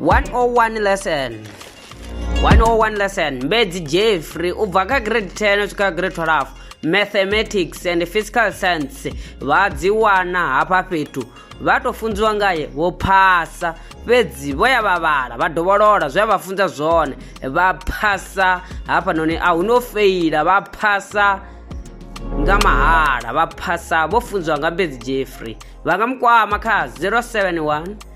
101 lesson 101 lesson mbedzi jeffrey u bva kha grade 10 u swika kha grade 12 mathematics and physical science vha dzi wana hafha fhethu vha tou funziwa ngaye vho phasa fhedzi vho ya vha vhala vha dovholola zwe a vha funza zwone vha phasa hafhanoni a hu no feila vha phasa nga mahala vha phasa vho funziwa nga mbedzi jeffrey vha nga mu kwama kha 071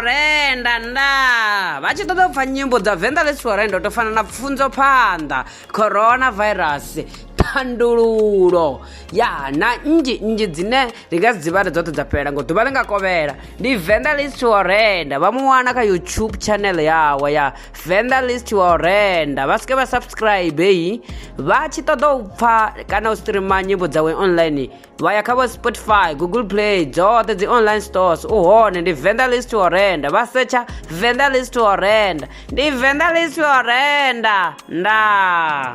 renda nda vha tshi ṱoḓa u pfa nyimbo dza venḓa ḽi siwa renda u to fana na pfunzo phanḓa coronavirus thandululo ya na nnzhi nnzhi dzine ri nga dzi dzivha ri dzoṱhe dza fhelela ngo ḓuvha ḽi nga kovhela ndi venḓa ḽi siwa renda vha mu wana kha youtube channel yawe ya venḓa list wa u renda vha sike vha subscribe heyi vha tshi ṱoḓa u pfha kana u streama nyimbo dzawe online vha ya kha vho spotify google play dzoṱhe dzi online stores u hone ndi venḓa list wa u renda vha setsha venḓa list wa u renda ndi venḓa list wa u renda ndaa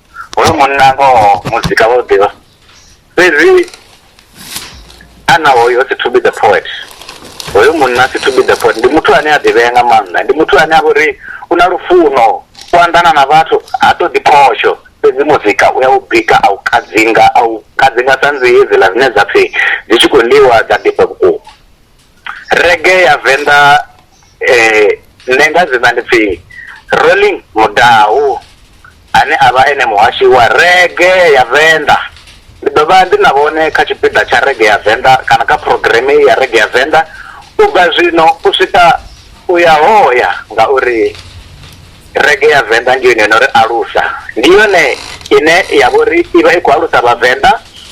hoyo munna ngoho muzika vha u ḓivha fhedzi ana hoyo si to be the poet hoyo munna si to be the poet ndi muthu ane a ḓivhea nga maanḓa ndi muthu ane a vhori u na lufuno u anḓana na vhathu ha to ḓiphosho fhedzi muzika u ya u bika a u kadzinga a u kadzinga sa nzi hedziḽa dzine dza pfhi dzi tshi khou ḽiwa dza ḓifha vhukuma rege ya venḓa eh, nṋe nga dzina ndi pfi rolling mudau ane a vha ene muhashi wa rege ya venḓa ndi ḓo vha ndi na vhone kha tshipiḓa tsha rege ya venḓa kana kha programme ya rege ya venḓa u bva zwino u swika u ya hoya ngauri rege ya venḓa ndi yone yo no ri alusa ndi yone ine ya vha uri i vha i khou alusa vhavenḓa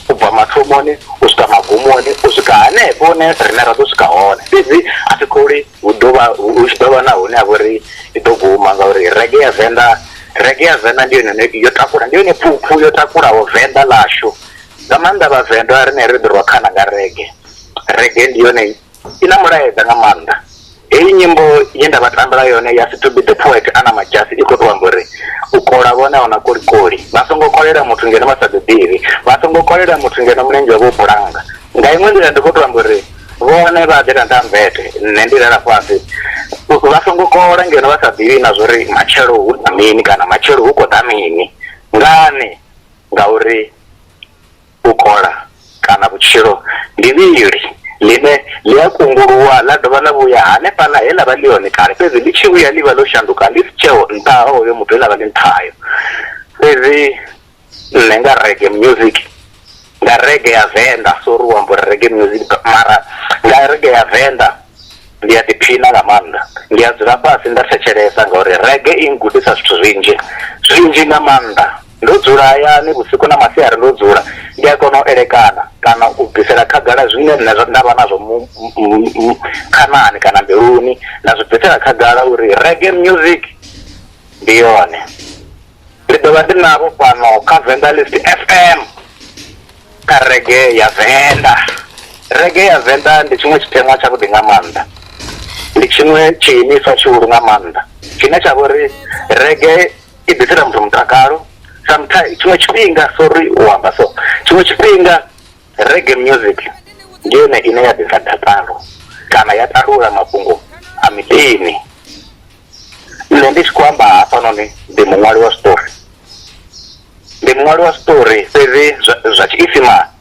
u bva mathomoni u swika magumoni u swika hanefho hune riṋe ra ḓo swika hone fhedzi a thi khou ri hu ḓovha hu tshi ḓovha na hune ha vha uri i ḓo guma ngauri rege ya venḓa rege ya venḓa ndi yone yo takula ndi yone phuphu yo takulaho venḓa ḽashu nga maanḓa vhavenḓa rine ri ḓi rwa khana nga rege rege ndi yone i na mulaedza nga maanḓa heyi nyimbo ye nda vha tambela yone ya si to be the poet ana majasi i khou tou amba uri u kola vhone ahuna kolikoli vha songo kolela muthu ngeno vha sa ḓi ḓivhi vha songo kolela muthu ngeno mulenzhe wavho u bulanga nga iṅwe nḓila ndi khou tou amba uri vhone vha ḓela nda mmbete nṋe ndi lala fhasi vha songo kola ngeno vha sa ḓivhi na zwori matshelo hu na mini kana matshelo hu khou ḓa mini ngani ngauri u kola kana vhutshilo ndi vhili ḽine ḽi a kunguluwa ḽa dovha ḽa vhuya hanefhaḽa he ḽa vha ḽi hone kale, fhedzi ḽi tshi vhuya ḽi vha ḽo shanduka ḽi si tsheho nṱha ha hoyo muthu he ḽa vha ḽi nṱha hayo. Fhedzi nṋe nga rege music nga rege ya venḓa sori u amba uri rege music mara nga rege ya venḓa ndi a ḓiphina nga maanḓa ndi a dzula fhasi nda thetshelesa ngauri rege i ngudisa zwithu zwinzhi zwinzhi nga maanḓa Ndo dzula hayani vhusiku na masiari ndo dzula, ndi a kona u elekana kana u bvisela khagala zwine nṋe nda vha nazwo khanani kana mbiluni, nda zwi bvisela khagala uri reggae music ndi yone. Ndi ḓo vha ndi navho fhano kha Venḓalist F_M kha reggae ya Venḓa. Reggae ya Venḓa ndi tshiṅwe tshiteṅwa tsha vhuḓi nga maanḓa, ndi tshiṅwe tshiimiswa tshihulu nga maanḓa tshine tsha vha uri reggae. i ḓisela muthu mutakalo sometimes tshiṅwe tshifhinga sorry u amba so tshiṅwe tshifhinga rege music ndi yone ine ya ḓisa dakalo kana ya talula mafhungo a miḓini nṋe ndi tshi khou amba hafhanoni ndi muṅwali wa story ndi muṅwali wa story fhedzi zwa tshiisimani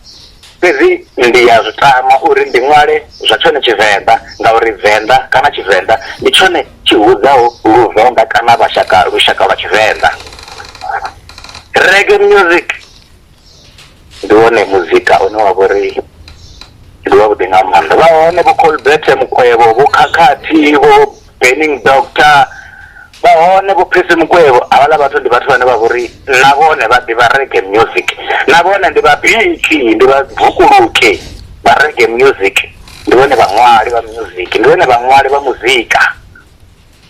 Fhedzi ndi ya zwi tama uri ndi ṅwale zwa tshone Tshivenḓa ngauri Venḓa kana Tshivenḓa ndi tshone tshi hudzaho Luvenḓa kana vhashaka lushaka lwa Tshivenḓa. Reggae music ndi wone muzika une wa vho ri ndi wavhuḓi nga maanḓa. Vha hone vho Colbert Mukwevho, vho Khakhathi, vho. burning doctor vha hone vho phesi mukwevho havhaḽa vhathu ndi vhathu vhane vha vhori na vhone vha ḓivha rege music na vhone ndi vhabiki ndi vhabvukuluke vha rege music ndi vhone vhaṅwali vha music ndi vhone vhaṅwali vha muzika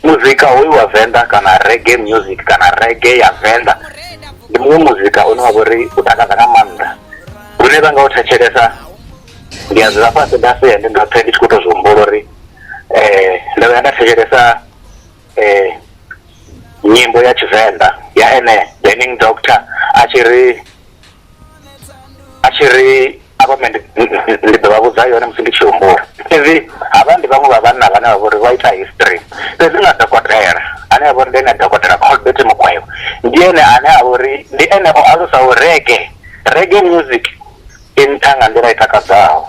muzika hoyu wa venḓa kana rege music kana rege ya venḓa ndi muṅwe muzika une wa vhori u takadza nga maanḓa hune vha nga u thetshelesa ndi a dzula fhasi nda sea ndi ndoṱhe ndi tshi khou tou zwi humbula uri eh ndo vhuya nda thetshelesa eh nyimbo ya tshivenḓa ya ene burning doctor a tshi ri a tshi ri avha me ndi ḓo vha vhudza yone musi ndi tshi humbula fhedzi havha ndi vhaṅwe vha vhanna vhane vha vhori vha ita history fhedzi nga dokotela ane avha uri ndi ene dokotela colbert mukwevho ndi ene ane a vhori ndi ene o alusa u rege rege music i nṱha nga nḓila i takadzaho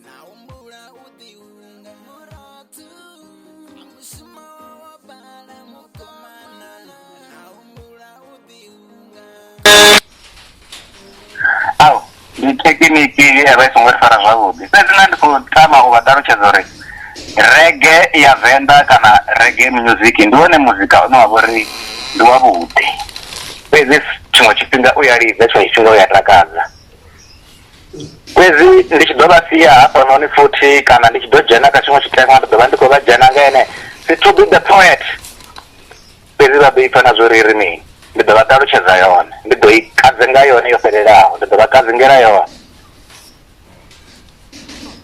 na humbula u ḓiunga murathu a mushumo wa wa bala mukomana na humbula u ḓiunga au ndi thekiniki ye ya vha i songo ri fara zwavhuḓi fhedzi na ndi khou tama u vha ṱalutshedza uri rege ya venḓa kana rege music ndi wone muzika une wa vha uri ndi wavhuḓi fhedzi tshiṅwe tshifhinga u ya lidza tshiṅwe tshifhinga u ya takadza fhedzi ndi tshi ḓo vha sia hafhanoni futhi kana ndi tshi ḓo dzhena kha tshiṅwe tshiteṅwa ndi ḓo vha ndi khou vha dzhena nga ene si to be the poet fhedzi vha ḓo ipfa na zwo ri ri mini ndi ḓo vha ṱalutshedza yone ndi ḓo i kadze nga yone yo fhelelaho ndi ḓo vha kadzingela yone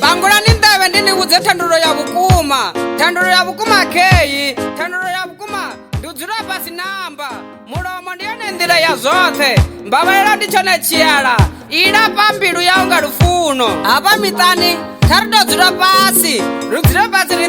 bangulani nḓevhe ndi ni vhudze thandululo ya vhukuma thandululo ya vhukuma kheyi thandululo ya vhukuma ndi u dzula fhasi namba mulomo ndi yone nḓila ya zwoṱhe mbavhalela ndi tshone tshiala i lafha mbilu yau nga lufuno hafha miṱani kha ri tou dzula fhasi ri dzule fhasi ri